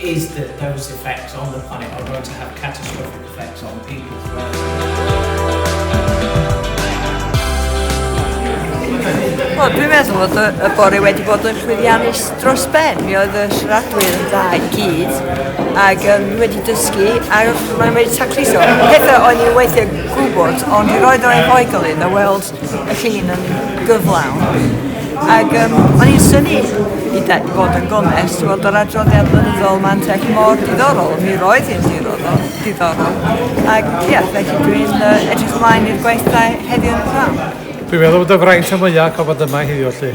Is the dose effect on the planet are going to have catastrophic effects on people as well? Wel, dwi'n meddwl fod y, y bore wedi bod yn llwyddiannus dros ben. Mi oedd y siaradwyr yn dda i gyd, ac um, wedi dysgu, a maen nhw wedi tacliso. Pethau o'n i weithiau gwybod, ond roedd o'n hoigol iddo weld llun yn gyflawn ac yym o'n i'n synnu i de- i fod yn gonest weld yr adroddiad blynyddol ma'n tech mor diddorol, mi roedd hi'n diddorol, diddorol ac ie, felly dwi'n uh, edrych ymlaen i'r gweithdai heddiw yn y pram. Dwi'n meddwl bod y fraint y mwyaf o fod yma heddiw lly.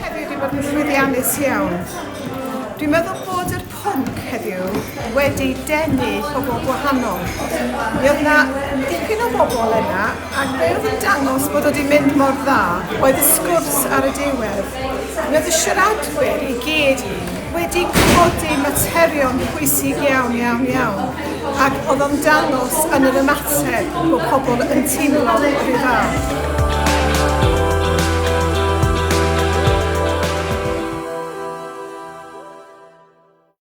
heddiw 'di bod yn llwyddiannus iawn. Dwi'n meddwl bod yr pwnc heddiw wedi denu pobl gwahanol. Mi oedd yna dipyn o bobl yna ac be oedd yn dangos bod wedi mynd mor dda oedd y sgwrs ar y diwedd. Mi oedd y siaradwyr i gyd wedi codi materion pwysig iawn, iawn, iawn, ac oedd o'n dangos yn yr ymateb bod pobl yn teimlo yr un fath.